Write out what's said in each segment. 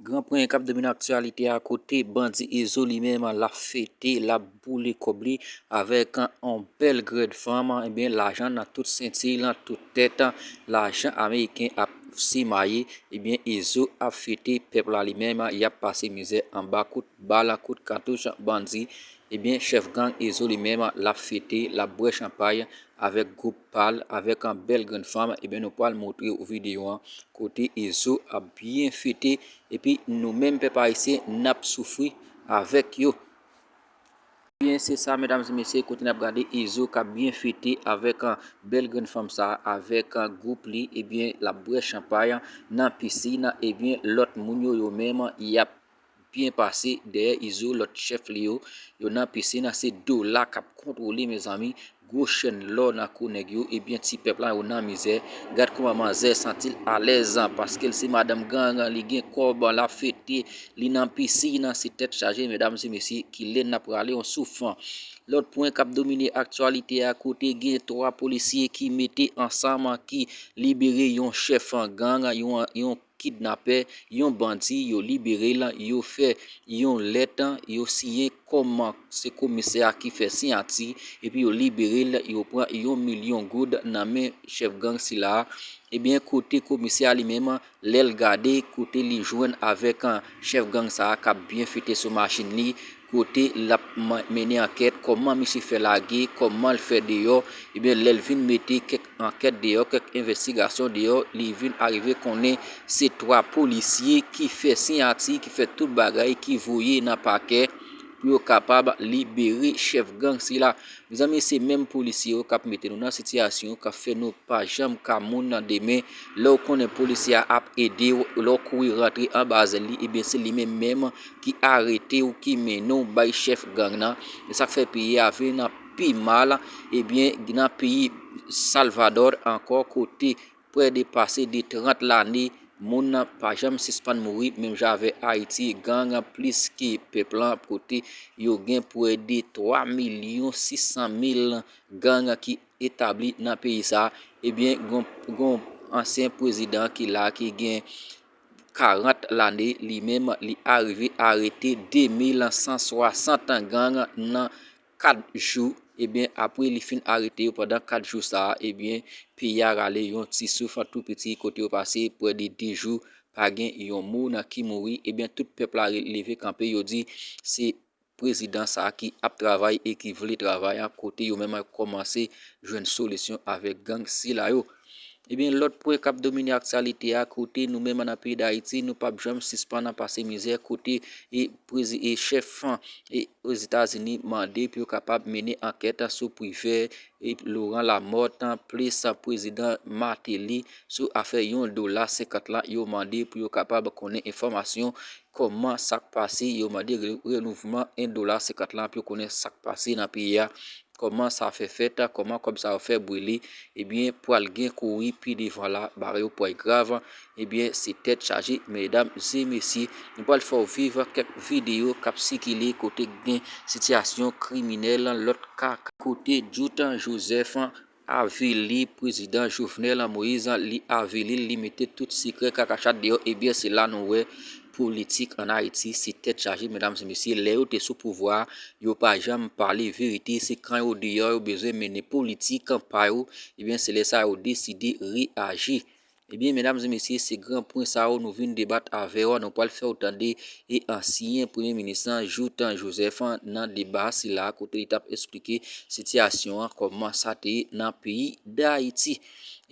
Gran pranyen kap domine aktyalite a kote bandi Izo li menm lap fete, lap boule kòb li avèk yon bèl grèd fanm, ebyen lajan nan tout senti, nan tout tèt, lajan ameriken ap simaye, ebyen Izo ap fete, pèp la li menm yap pase mizè anba kout bal, kout katouch bandi, ebyen chèf gang Izo li menm lap fete, lap bwè chanpay avèk gwoup. pal avek an bel grenn fanm ebyen nou pwal moutre ou video an kote ezo ap byen fete epi nou menm pep ayisyen nap soufri avek yo. Ebyen se sa medam e mesye kote nap gade ezo kap byen fete avek an bel grenn fanm sa avek an group li ebyen lap bwè chanpay nan piscine ebyen lot moun yo yo menm yap byen pase dèyè izo lòt chèf li yo yo nan pisin an se dola kap kontwole mezanmi gwo chèn lò nan kou nèg yo ebyen ti pèp la yo nan mizè gad kouman manzè santil alèz paskel se madanm gang li gen kòb lap fete li nan pisin an se tèt chaje medam se mesye kilè nap rale yon souf lòt pwen kap domine aktyalite a kote gen 3 polisye ki mete ansanm ki libere yon chèf gang yon kidnapè yon bandi yo libere l yo fè yon lèt yo siyen kòm se komisè a ki fè siyati epi yo libere l yo pran yon milyon goud nan men chèf gang sila ebyen kote komisè a li menm lè l gade kote li jwenn avèk chèf gang sa kap byen fete sou machin li. kote lap mennen ankèt, kòman misye fè lage, kòman l fè deyò, ebyen lè l vin mete kèk ankèt deyò, kèk envèstigasyon deyò, li vin arive konnen se 3 polisye ki fè siyati, ki fè tout bagay, ki voye nan pakè pou yo kapab libere chèf gang sila. Mezanmi se menm polisye yo kap mete nou nan sitiyasyon yo, kap fè nou pa janm ka moun nan demen, lè w konnen polisye a ap ede w, lè w kouri rantre anba zèl li, ebyen se li menm menm ki arete ou ki mennen ou bay chèf gang nan e sak fè peyi a vin nan pi mal ebyen nan peyi salvador ankò kote prè de pase de 30 lane moun nan pa janm sispann mouri menm jan avè ayiti gang an plis ke pèp lan kote yo gen prè de 3 milyon 600 mil gang an ki etabli nan peyi sa ebyen gon ansyen prezidan ki la ki gen 40 lane li menm li arive arete 2160 gang nan 4 jou ebyen apre li fin arete yo pandan 4 jou sa ebyen peyi a rale yon ti souf an tou piti kote yo pase pwè de 2 jou pa gen yon mou nan ki mouri ebyen tout pèp la leve kanpe yo di se prezidan sa ki ap travay e ki vle travay a kote yo menm ap kòmanse jwenn solisyon avèk gang sila yo. Ebyen lòt pwen kap domine aktyalite a kote nou menm an nan peyi Dayiti nou pap janm sispann an pase mizè kote e prezi e chèf an e Ozetazini mande pou yo kapab mennen ankèt sou privè e Laurent Lamothe plis prezidan Martelly sou afè yon dola senkant la yo mande pou yo kapab konnen enfòmasyon Kòman sak pase yo mande renouvman 1 dola 50 lan pou yo konnen sak pase nan peyi a, kòman sa fè fèt, kòman kòb sa yo fè brile, ebyen pwal gen kouri pi devan la bare yo pway grav, ebyen se tèt chaje medam e mesye, nou pwal fè w viv kèk videyo kap sikile kote gen sitiyasyon kriminèl lòt ka, kote Jouthe Joseph Avili prezidan jovenel moïse li avilil li mete tout sikrè kakachat deyò ebyen se la nou wè politik an ayiti se tèt chaje medam e mesye lè yo te sou pouvwa yo pa janm pale verite se kan yo deyò yo bezwen mennen politik pa yo ebyen se lè sa yo deside reyaji Ebyen medam e mesye se gran pwen sa yo nou vin debat avèw a nou pwal fèw tande e ansyen premye minis lan Joutan Joseph nan deba sila kote li tap esplike sitiyasyon an kòman sa te ye nan peyi dayiti.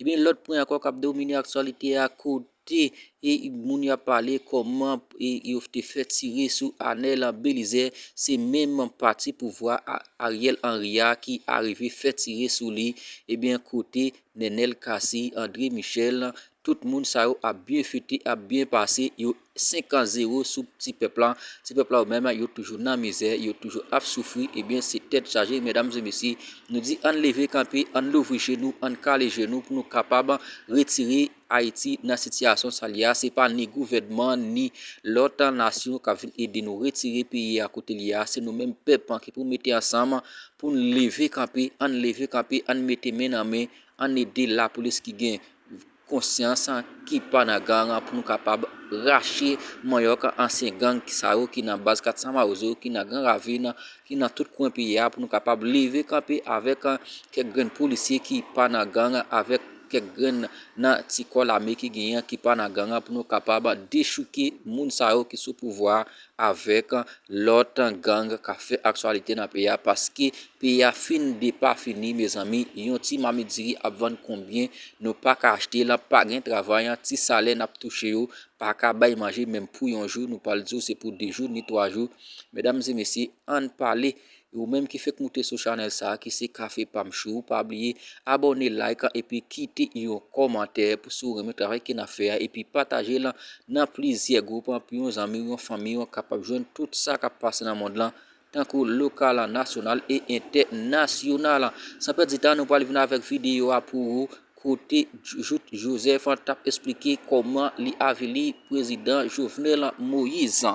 Ebyen lòt pwen ankò kap domine aktyalite a kote e moun yo ap pale kòman e yo te fè tire sou Anel Belizaire se menm pati pouvwa Ariel Henry a ki arive fè tire sou li ebyen kote Nenel Cassy, André Michel, tout moun sa yo ap byen fete, ap byen pase, yo 5 ans 0 sou ti pèp la, ti pèp la yo menm yo toujou nan mizè, yo toujou ap soufri, ebyen se tèt chaje medam e mesye, nou di ann leve kanpe, ann louvri je nou, ann kale je nou pou nou kapab retire. Ayiti nan sitiyasyon sa li a, se pa ni gouvènman ni lòt nasyon kap vin ede nou retire peyi a kote li ye a, se nou menm pèp ki pou mete ansanm poun leve kanpe, ann leve kanpe, ann mete men nan men, ann ede lapolis ki gen konsyans, ki pa nan gang pou nou kapab rache manyòk ansyen gang sa yo ki nan baz 400 mawozo, ki nan gran ravin, ki nan tout kwen peyi a pou nou kapab leve kanpe avèk kèk grenn polisye ki pa nan gang avèk. kèk grenn nan ti kò lame ki genyen an ki pa nan gang an pou nou kapab dechouke moun sa yo ki sou pouvwa a avèk lòt gang k ap fè aktyalite nan peyi a paske peyi a fin depafini mezanmi yon ti mamit diri ap vann konbyen nou pa ka achte l pa gen travay ti salè n ap touche yo pa ka bay manje menm pou yon jou nou pral di w se pou de jou ni twa jou medam e mesye ann pale E ou menm ki fek moute sou chanel sa ki se kafe pam chou pa bliye abone like epi kite yon komantè pou si ou renmen travay ke nap fè a epi pataje l nan plizyè group pou yon zanmiw yon fanmiw kapab jwenn tout sa kap pase nan mond lan tankou lokal nasyonal e entè nasyonal san pèdi tan nou pral vin avèk video a pou ou kote jout joseph tap esplike koman li avili prezidan jovenel moise.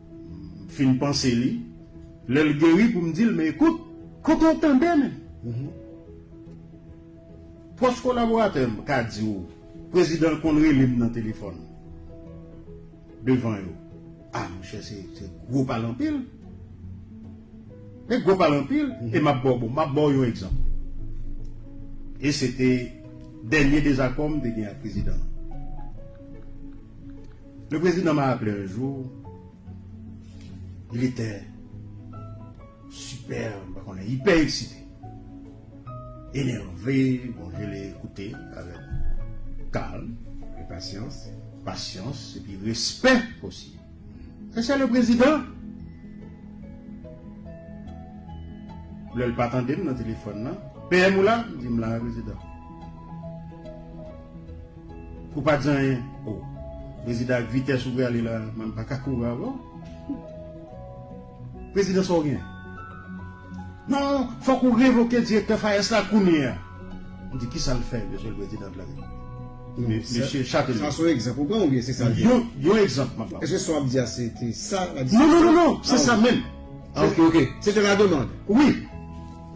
M fin panse li, lè l geri pou m di l men ekout. Kote w tande men? Pwòch kolaboratè m ka di w prezidan l konn rele m nan telefòn devan yo. A monchè se gwo pale anpil. Se gwo pale anpil e m ap ba w bon, m ap ba w yon egzanp. E se te dènye dezakò m te gen ak prezidan an. Le prezidan m'a rappele un jour, il était super, mwen pa konnen, ipè eksite, enève, bon je l'ai écouté avec calme et patience, patience et puis respect aussi. Sa se le prezidan! Lè l pa tande m nan telefòn nan, PM ou la? M di m la, prezidan. Ou pa di anyen oh. Prezidan ak vitès ou prale la mwen m paka kouri avè w Prezidan sa w gen Non fòk ou revoke direktè FAES la kounyea M di kisa l fè Mesye l Prezidan de la Repiblik Mesye Chatellier Sa se yon egzanp ou pran oubyen se sa l gen Yon egzanp m ap ba w Èske sa w ap di a se te sa la diskisyon Non non non se sa menm Ah ok ok Se te la demand Wi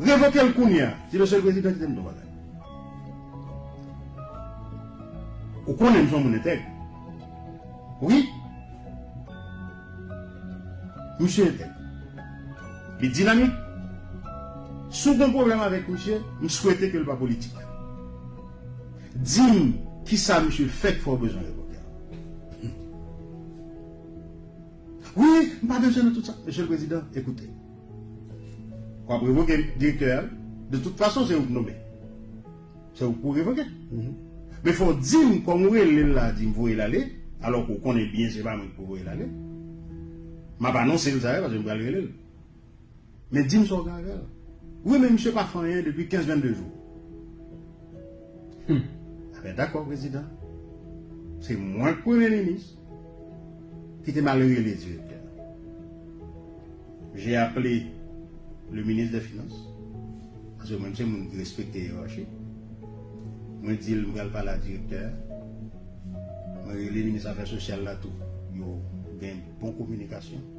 Revoke l kounyea Di Mesye l Prezidan kite m di w yon bagay. Ou konnen m son moun entèg. Wi. Misye entèg. Li dinamik. Si w gen pwoblèm avèk misye, m swete ke l pa politik. Di m kisa misye fè ki fè w bezwen revòke l. Wi, m pa bezwen nan tout sa. Mesye le prezidan, ekoute. W ap revoke direktè a. De tout fason, se ou k nome. Se ou pou revoke. Men fò w di m kòm ou rele l la di m voye l ale, alò ke w konnen byen se pa mwen ki pou voye l ale. M ap anonse l sa yo paske m pral rele l. Men dim sa w gen avèl. Wi men misye pa fè anyen depi 15 22 jou. Humm. Ebyen dakò prezidan. Se mwen k premye minis. Kite m ale rele direktè. J'ai appelé le ministre des finances. Paske mwen se moun ki respekte yerachi. Mwen di l m pral pale ak direktè a. Mwen rele minis afè sosyal la tou. Yo gen bon kominikasyon.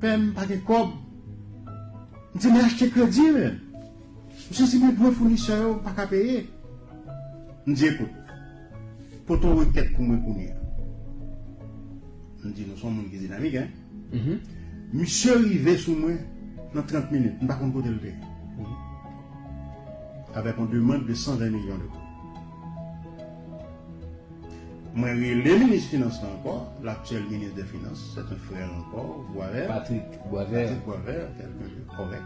Pè m pa gen kòb. M di li achte kredi men. Misye di men dwe founisè yo m pa ka peye. M di ekout, pote yon rekèt pou mwen kounye a. M di nou son moun ki dinamik hein. Misye rive sou mwen nan 30 minit, m pa konn kote l te ye. Avèk yon demand de 120 milyon de goud. Mwen rele minis finans lan ankò, l'actuel ministre des Finances, c'est un frère encore, Boisvert. Patrick Boisvert. Patrick Boisvert, quelqu'un de correct.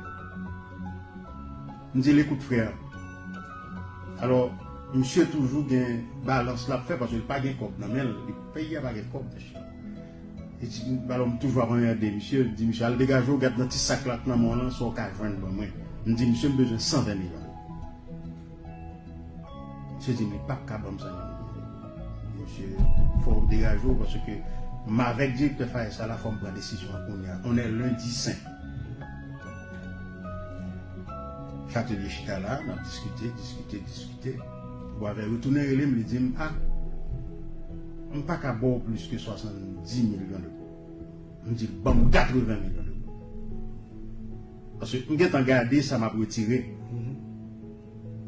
M di l, écoute frère, alors misye toujou gen balans l ap fè paske l pa gen kòb nan men l, peyi a pa gen kòb mesye. Li di, alors m toujou ap anmède misye, m di misye al degaje w gad nan ti sak la k nan men w lan sa w ka jwenn ban mwen. M di misye m bezwen 120 milyon. Sezim li pap ka banm zanmi m. Mesye fò ou degaje w paske m avèk direktè Fayès sa la fò m pran desizyon an kounya. On est lundi saint. Chatelye chita la nap diskite, diskite, diskite. Bwavè retounen rele m li di m a m pa ka ba w plis ke 70 milyon de goud. M di l banm 80 milyon de goud. Paske m gentan gade sa m ap retire.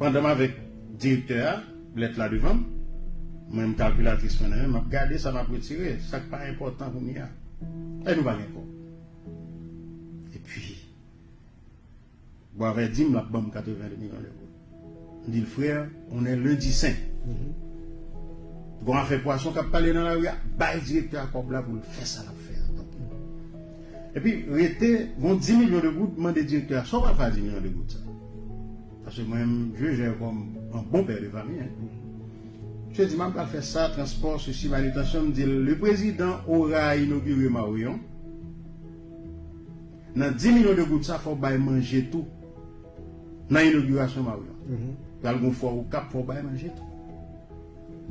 Pandan m avèk direktè a, lèt la devan m, mwen m kalkilatris mwen nan men m, m ap gade sa m ap retire, sa k pa enpòtan kounye a. Èy nou pa gen kòb. Epi, Boisvert di m l ap ban m 82 milyon de goud. Ndil frère on est lundi saint gon afè pwason kap pale nan lari a bay direktè a kob la poul fè sa lap fè a tanpri epi rete gon 10 milyon de goud mande direktè a sa ou pral fè a 10 milyon de goud sa paske mwen m jwe jè yo kòm on bon père de famille misye di map pral fè sa transpò sesi manitansyon mdil le prezidan ora inogire mawion. Nan 10 milyon de goud sa fòw bay manje tou nan inogirasyon Marion pral gon fwa okap fòw bay manje tou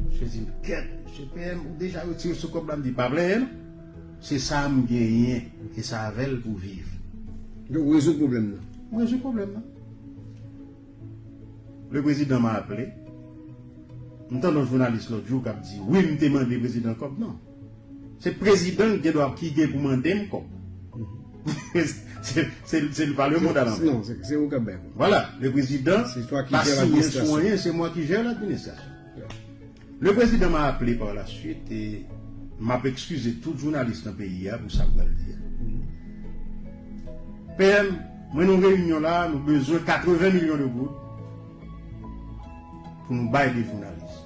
Misye dim kèt Misye PM ou deja retire sou kòb la mdi pa plenyen non se sa m genyen e sa avèl pou viv. Donk ou rezoud pwoblèm nan. M rezoud pwoblèm nan. Le prezidan ma aple. M tande yon jounalis lòt jou kap di wi m te mande prezidan kòb non. Se prezidan ki gendwa ki gen pou mande m kòb. Se li pa le mond a lanvè. Non, se ou k ap bay kòb. Vwala, le prezidan pa siyen sou anyen, se mwa ki jè l'administrasyon. Le prezidan m'a aple par la swit e m ap ekskize tout jounalis nan peyi a pou sa m pral di a. PM, mwen nan yon reyinyon la, nou bezwen 80 milyon de goud pou nou bay de jounalis.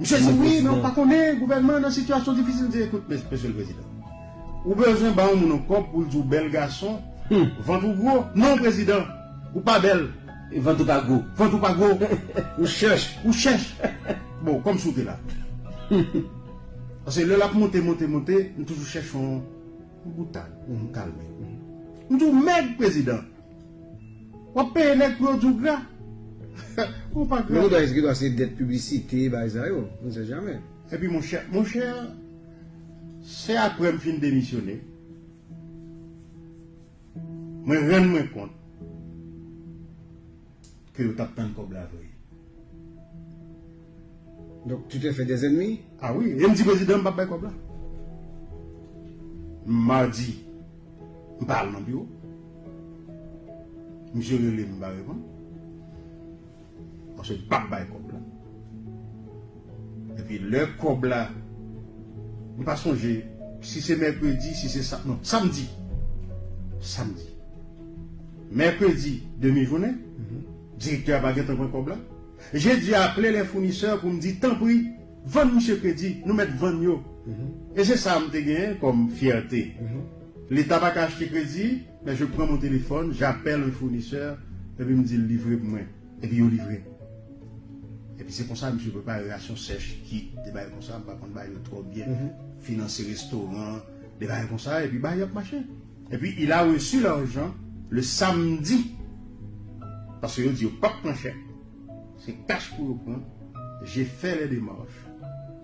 Misye di wi men ou pa konnen gouvènman nan sitiyasyon difisil misye ekout mesye l prezidan ou bezwen ba yon moun yon kòb pou l di w bèl gason vant ou gwo non prezidan ou pa bèl vant ou pa gwo vant ou pa gwo ou chèch ou chèch bon kòmsi w te la paske lè l ap monte monte monte m toujou chèch yon boutad pou m kalme m di w mèg prezidan. Wap peye nèg pou yo di w gra. Ou pa gra. Yon bagay se gra se dèt piblisite bagay sa yo. On sait jamais. Epi monchè, monchè se aprè m fin demisyone mwen rann mwen kont. ke yo tap tann kob la vre. Donk tu te fais des ennemis? Ah oui, e m di prezidan m pap bay kob la. Mardi m pa al nan biro. Misye rele m m pa reponn. Paske m pap bay kob la. Epi lè kòb la m pa sonje si se mèkredi si se sa non samdi samdi mèkredi demi jounen direktè a pa gentan pran kòb la jedi a aple lè founisè pou m di tanpri vann misye kredi nou mèt vann yo e se sa m te genyen kòm fyète leta pa ka achte kredi men je pran mon telefòn japèl un founisè epi m di l livre pou mwen. Epi yo livre. Epi se konsa misye prepare rasyon sèch, kit, de bagay konsa, m pa konn bagay yo twò byen, finanse restoran, de bagay konsa, epi bagay yo ap mache. Epi il a reçu l'argent le samedi, paske yo di yo pap pran chèk, se kach pou yo pran, je fè lè demarch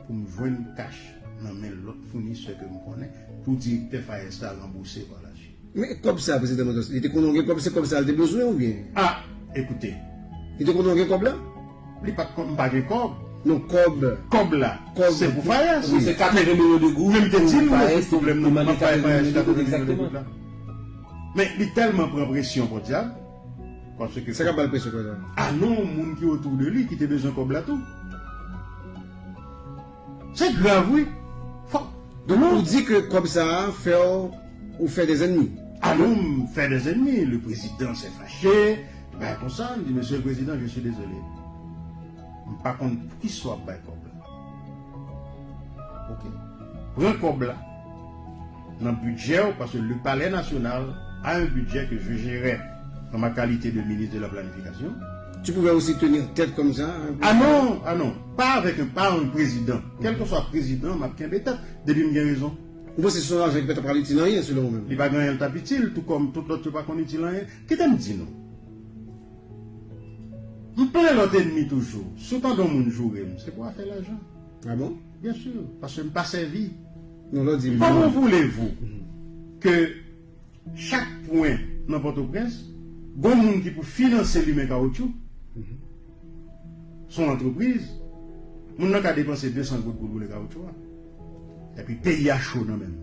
pou m jwenn kach nan men lòt founisè ke m konnen, pou direktè Fayez la ranbouse pa la suite. Men kòb sa prezidan Manzòs li te konnen w gen kòb se kòb sa l te bezwen ou byen? A, ekoute. Li te konnen w gen kòb la? Li pa t konnen m pa gen kòb. Non kòb. Kòb la. Kòb. Se pou Fayès. Wi se 80 milyon de goud. Men m te di l m rezoud pwoblèm nan m ap bay Fayès 80 milyon de goud la. Men li tèlman pran presyon pòdyab paske. Sa k ap ba l presyon konsa? A non moun ki otou de li ki te bezwen kòb la tou. Se grav wi fok Donk ou di ke kob sa a fèw ou fè des ennemis? Ah non m fè des ennemis le prezidan sè fache li bay konsa li di mesye le prezidan je suis desole m pa konn poukisa wap bay kob la ok pran kob la. nan bidjè w paske le palè nasyonal a un budget que je gerais en ma qualité de ministre de la planification. Tu pouvais aussi tenir tête comme ça un peu. Ah non! Ah non! Pa avèk un pa un prezidan. Kèlkeswa prezidan, m ap kenbe tèt, depi m gen rezon. Ou panse se yon lajan ki pa ta pral itil anyen, selon ou menm? Li pa gen anyen l t ap itil, tou kòm tout lòt yo pa konn itil anyen. Kite m di nou, m plen lòt enmi toujou. Si w tande yon moun joure m, se pou afè lajan. Ah bon? Bien sûr, paske m pa sèvi yon lòt dirijan. Comment voulez-vous ke chak pwen nan Pòtoprens gon moun ki pou finanse limen kawotchou, son antrepriz, moun nan ka depanse 200 goud pou l boule kawotchou a, epi peyi a cho nan men l.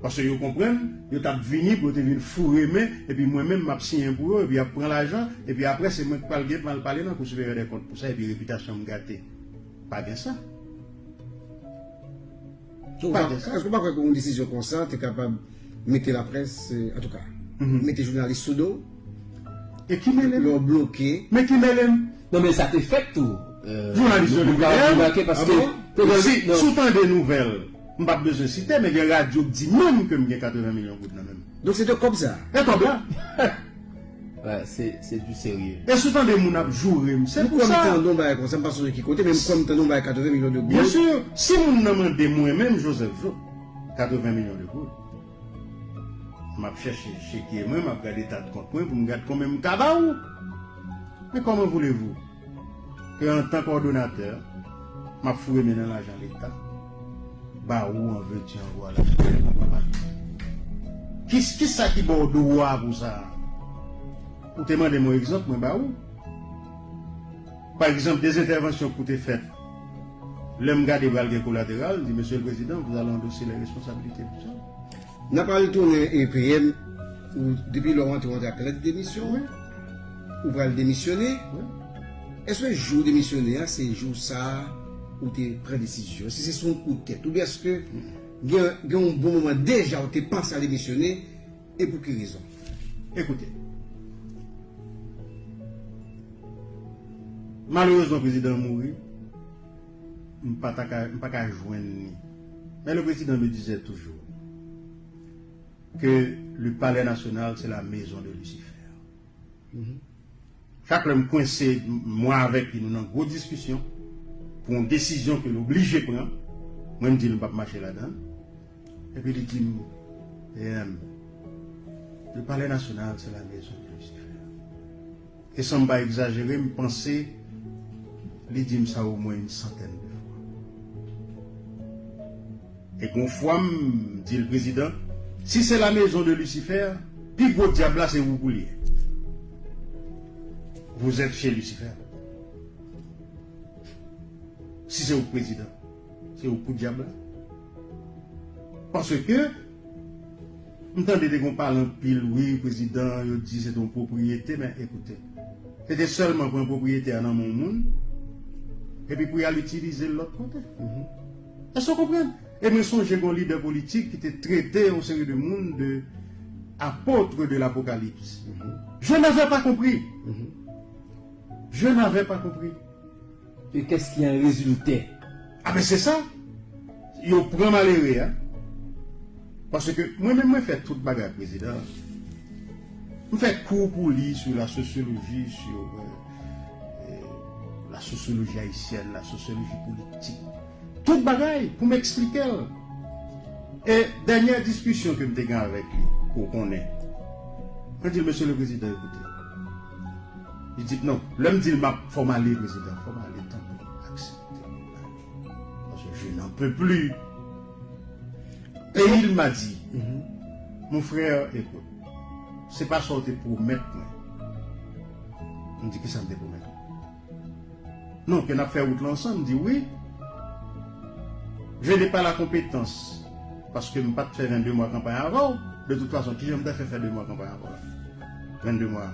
Paske yo konprann, yo t ap vini pou yo te vin foure men, epi mwen menm m ap siyen pou yo, epi y ap pran lajan, epi apre se mwen k pral gen pou m al pale nan Kou Siperyè dè Kont pou sa, epi repitasyon m gate. Pa gen sa. Pa gen sa. Èske w pa kwè ke yon desizyon konsa te kapab mete laprès, antouka, mete jounalis sou do, lè w bloke. Men ki mele m? Non men sa te fèt tou. Jounalis yo leve deyè yo. A bon? Si w tande nouvèl, m pa p bezwen site, men gen radyo k di menm ke m gen 80 milyon goud nan men m. Donk se de kòb sa? E kòb la. Se du serye. E si w tande moun ap joure m, se pou sa. M kwè m tande yon bagay konsa, m pa sonje ki kote, men m kwè m tande yon bagay 80 milyon de goud. Byen sur. Si moun nan mande mwen menm Joseph Jouthe, 80 milyon de goud. Map chèche chekye mwen map gade tat kont mwen pou m gad konbyen m ka ba ou men kòman voulez vous ke antan kòdonatè map foure men nan lajan leta ba ou an veux tu en voilà kisa ki baw dwa pou sa ou te mande m yon egzanp mwen ba ou. Pa egzanp, 2 entèvansyon kou te fèt, lè m gade pral gen kolateral, m di Mesye le Prezidan, vous allez endosser les responsabilités pou sa. N ap al tounen e peye m, ou depi lè w antre w antre ak lèt demisyon w, ou pral demisyone, èske jou w demisyone a se jou sa a ou te pran desizyon, èske se sou yon kou tèt oubyen èske gen yon bon moman deja ou te panse al demisyone, e pou ki rezon? Ekoute. Malerezman prezidan an mouri, m pa ta ka, m pa ka jwenn ni. Men le prezidan me dizè toujou ke le palè nasyonal se la mezon de lisifè. Chak lè m kwense, mwen avèk li nou nan gwo diskisyon pou yon desizyon ke l oblije pran, mwen m di l m pa p mache ladan l. Epi li di m, PM, le Palais National c'est la maison de Lucifer. E san m pa egzajere, m panse li di m sa omwen yn santèn de fwa. E gon fwa m di l, Prezidan, si se la maison de Lucifer, pi gwo dyab la se ou pou l ye. Vous êtes chez Lucifer. Si se ou k prezidan. Se ou kou dyab la. Paske m tande te gon pale anpil wi prezidan yo di se te yon pwopriyete men ekoute. Se te sèlman pran pwopriyete a nan men yon moun epi pou y al itilize l lòt kote. Èske ou konprann? E mwen sonje gon lidè politik ki te trete yon seri de moun de apôtres de l'apocalypse. Je n'avais pas compris! Je n'avais pas compris! E kès ki an rezilte? A men se sa! Yo pran malere a. Paske mwen menm mwen fè tout bagay prezidan an. M fè kou pou li sou la sosyoloji, sou la sosyoloji ayisyèn, la sosyoloji politik. Tout bagay pou m eksplike l. E dènyè diskisyon ke m te gen avèk li, ke w konnen. Mwen di l, Mesye le prezidan, ekoute. Li di, Non. Lè m di l m ap fò m ale, prezidan, fò m ale tanpri aksepte pou m ale. Paske je n'en peux plus. Et il m'a dit, Mon frère, écoute, se pa sa ou te pwomèt mwen. M di, Ki sa m te pwomèt ou? Non ke nap fè wout lan ansanm di wi. Je n'ai pas la compétence paske m pat fè 22 mwa kanpay avèw, de tout fason kijan m ta fè fè 2 mwa kanpay avèw la? 22 mwa?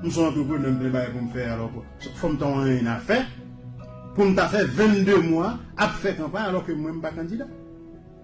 M son antreprenè m plen bagay pou m fè alò fòm ta yon anyen a fè pou m ta fè 22 mwa ap fè kanpay alò ke mwen m pa kandida.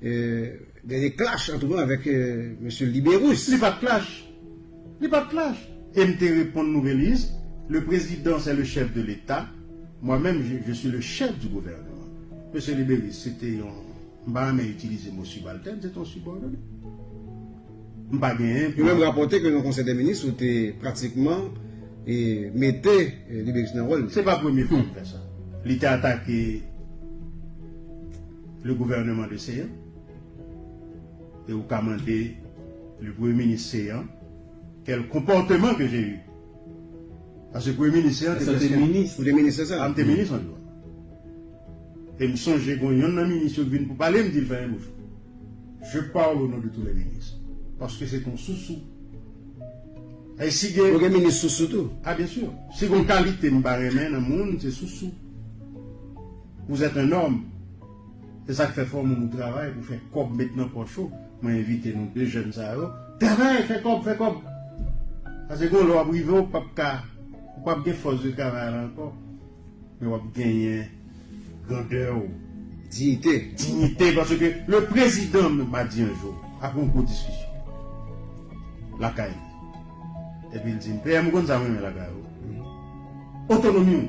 Dènye clash antre mwen avèk Mesye Libérus. Li pa t clash. Li pa t clash. E m te reponn Nouvelliste, Le Président c'est le chef de l'Etat, moi même je suis le chef du gouvernement. Mesye Libérus se te yon, m pa renmen itilize mo subalterne, se te yon subordonne. M pa gen pou. Yo menm rapòte ke nan Konsèy dè Minis ou te pratikman mete Libérus nan wòl li. Se pa premye fwa m fè sa. Li te atake. Le gouvernement de Seyan et ou ka mande le premye minis Seyan quel comportement que j'ai eu parce que premye minis Seyan te preske Ou te minis lè sa? A m te minis an dwa e m sonje gon yonn nan minis yo ki vin pou pale m di l fèmen bouch ou je parle au nom de tous les ministres parce que c'est ton sousou e si gen Ou gen minis sousou tou? Ah bien sûr si gon kalite m pa renmen nan moun se sousou. Vous êtes un homme! Se sak fè fò moun ou travay pou fè kòb met nan pòch ou, mwen envite nou 2 jèn sa yo, travay fè kòb fè kòb! Pase gon lè wap rive ou pap ka ou pap gen fòs de travay la ankò men wap genyen grandè ou, diyite, dignité paske le prezidan menm pa di yon jou apre yon gwo diskisyon lakay li epi l di m PM ou konn sa m renmen lakay ou otonomi w.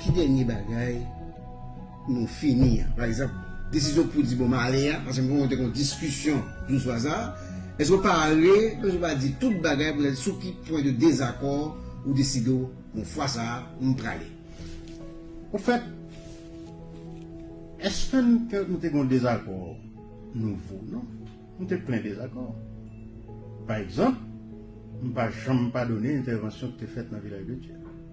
Ki dènye bagay nou fini an? Pa egzanp, desizyon pou di bon m ale a, paske m konnen w te gen yon diskisyon jou swa sa a, èske w pare, menm si w pa di tout bagay, pou ta di sou ki pwen de dezakò ou deside w bon fwa sa a m prale? Ofèt, èske n te nou te gen yon dezakò nouvo? Non. Nou te plen dezakò. Pa egzanp, m pa janm padone entèvansyon ki te fèt nan Vilaj de Dye.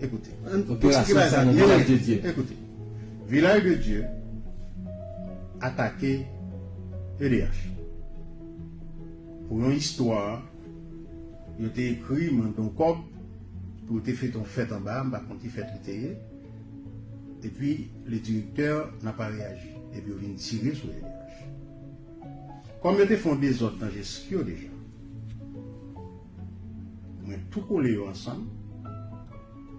Operasyon sa nan Vilaj de Dye. Vilaj de Dye atake edh pou yon istwa yo te ekri mande yon kòb pou yo te feyton fèt anba m pa konn ki fèt li te ye epi le directeur nan pa reyaji epi yo vin tire sou edh kòm yo te fè yon dezòd nan jeskyo deja. Mwen tou kole yo ansanm.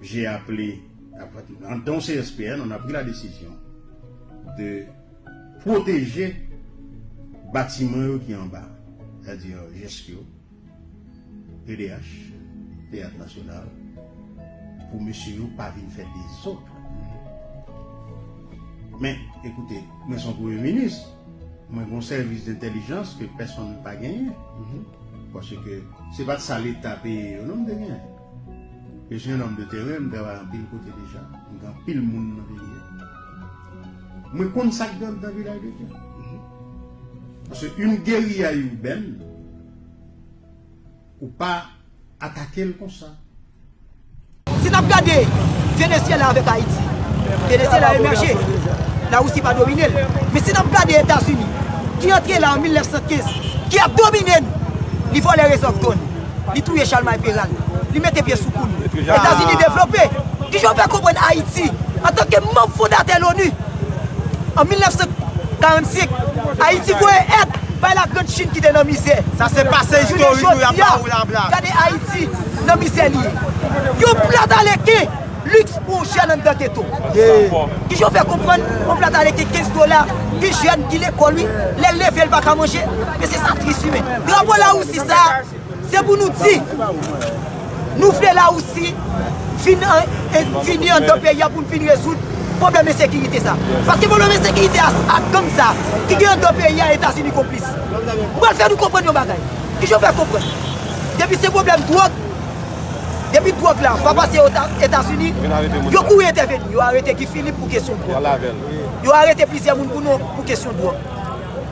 J'ai appelé dans CSPN, on a pris la décision de protéger batiman yo ki anba, c'est-à-dire GESC yo, PDH, Théâtre National, pou mesye yo pa vin fè dezòd. Men, ekoute, mwen son premye minis. Mwen gon sèvis dentèlijans ke pèsonn pa genyen. Paske se pat sa leta peye yo non m te genyen. Je suis un homme de terrain, m travay anpil kote deja, m gen anpil moun nan peyi a. Mwen konn sa k gen anndan Vilaj de Dye. Paske yn geriya urbaine. Ou pa atakel konsa. Si nap gade Venezyela avèk Ayiti, Venezyela emèje, Larisi pa domine l. Men si nap gade Etazini ki antre la an 1915, ki ap domine n, li vòlè rezèv dò n, li touye Chalmay Peral, li mete pye sou kou n. Etazini devlope. Kijan w fè konprann Ayiti antanke manm fondatè l onu, An 1945, Ayiti voye èd bay Lagrand Chin ki te nan mizè. Jounen jodi a, gade Ayiti nan mizè li ye. Yon plat aleken liks pou yon jèn anndan geto. Kijan w fè konprann yon plat aleken 15 dola, yon jèn ki lekòl wi, lè l leve l pa ka manje? Men se sa tris wi men. Drapo Larisi sa a. Se pou nou di, nou vle Lawousi vin vini anndan peyi a pou n vin rezoud pwoblèm ensekirite sa. Paske pwoblèm ensekirite a ak gang sa ki gen anndan peyi a Etazini konplis. M pral fè nou konprann yon bagay. Ki jan m fè konprann? Depi se pwoblèm dwòg, depi dwòg la pa pase Etazini, yo kouri entèveni. Yo arete Guy Philippe pou kesyon dwòg. Yo arete plizyè moun pou kesyon dwòg.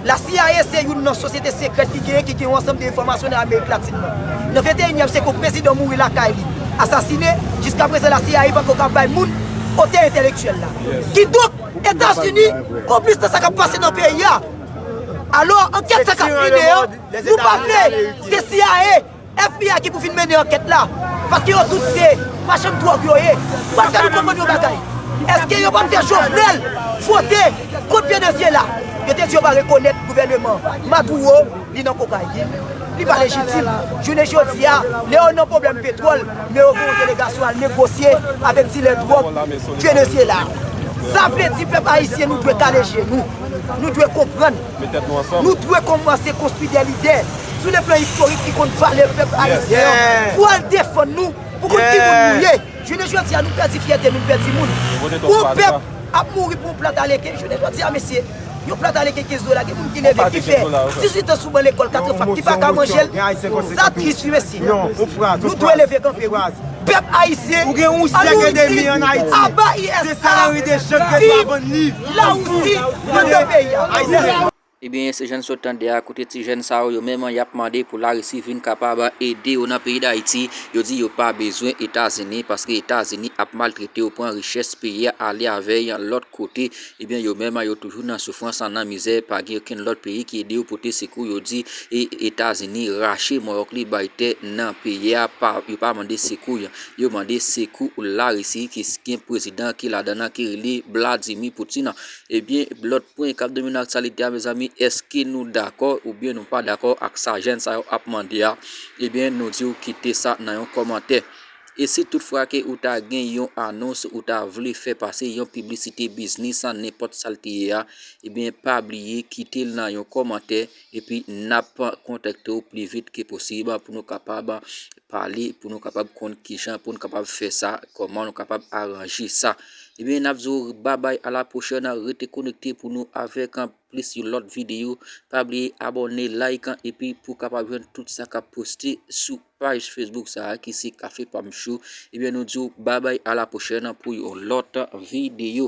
La cia se youn nan sosyete sekrèt ki genyen ki gen yon ansanm de enfòmasyon nan Amerik Latin nan. Nan venteyinyèm syèk yon prezidan mouri lakay li, asasine, jiska prezan la cia pako ka bay moun otè entèlektyèl la. Kidonk, Etazini konplis nan sa k ap pase nan peyi a. Alò, ankèt sa k ap mennen an, nou pa vle, se cia. FBI ki pou vin mennen ankèt la, paske yo tout se machann dwòg yo ye, pa fè nou konprann yon bagay, èske yo pap fè Jovenel fwote kont pye dosye la, yo te di yo pa rekonèt gouvèneman Maduro, li nan kokayin, li pa lejitim, jounen jodi a, lè yo nan pwoblèm petwòl, men yo voye yon delegasyon al negosye avèk dilè dwòg Venezyela, sa vle di pèp ayisyen nou dwe kale je nou, nou dwe konprann. Nou dwe kòmanse konstwi de lidè sou le plan istorik ki konn valè pèp ayisyen an pou al defann nou pou konn ki moun nou ye. Jounen jodi a nou pèdi fyète nou, n pèdi moun. Yon pèp ap mouri pou yon plat aleken. Jounen jodi a mesye, yon plat aleken 15 dola gen moun ki leve ki fè 18 an sou ban lekòl katre fak ki pa ka manje l. Sa tris wi mesye. Nou dwe leve kanpe wi. Pèp ayisyen an nou ini aba ISA! Viv! La Russie nan de peyi a ayisyen. Ebyen se jann sot tande a kote ti jèn sa yo yo menm yap mande pou larisi vin kapab ede yo nan peyi dayiti yo di yo pa bezwen etazini paske etazini ap maltrete yo pran richès peyi a ale avè y lòt kote ebyen yo menm yo toujou nan soufrans nan mizè pa gen okenn lòt peyi ki ede yo pote sekou yo di etazini rache mòyòk li bay tè nan peyi a pa yo pa mande sekou y. Yo mande sekou Larisi ki gen prezidan ki ladan nan ki rele Vladimir Poutine. Ebyen lòt pwen kap domine aktyalite a mezanmi eske nou dakò oubyen nou pa dakò ak sa jèn sa yo ap mande a ebyen nou diw kite sa nan yon kòmantè. E si tout fwa ke ou ta gen yon anons ou ta vle fè pase yon piblisite biznis nenpòt sal te ye a ebyen pa bliye kitel nan yon kòmantè epi nap kontakte w pi vit ke posib pou nou kapab pale pou nou kapab konn kijan pou nou kapab fè sa, kòman nou kapab aranje sa. Ebyen, n ap di w babay a la pwochèn, rete konekte pou nou avèk an plis yon lòt videyo. Pa bliye abòne, like an, epi pou kapab jwenn tout sa k ap poste sou paj Facebook sa a ki se Café Pam Show. Ebyen, nou di w babay a la pwochèn pou yon lòt videyo.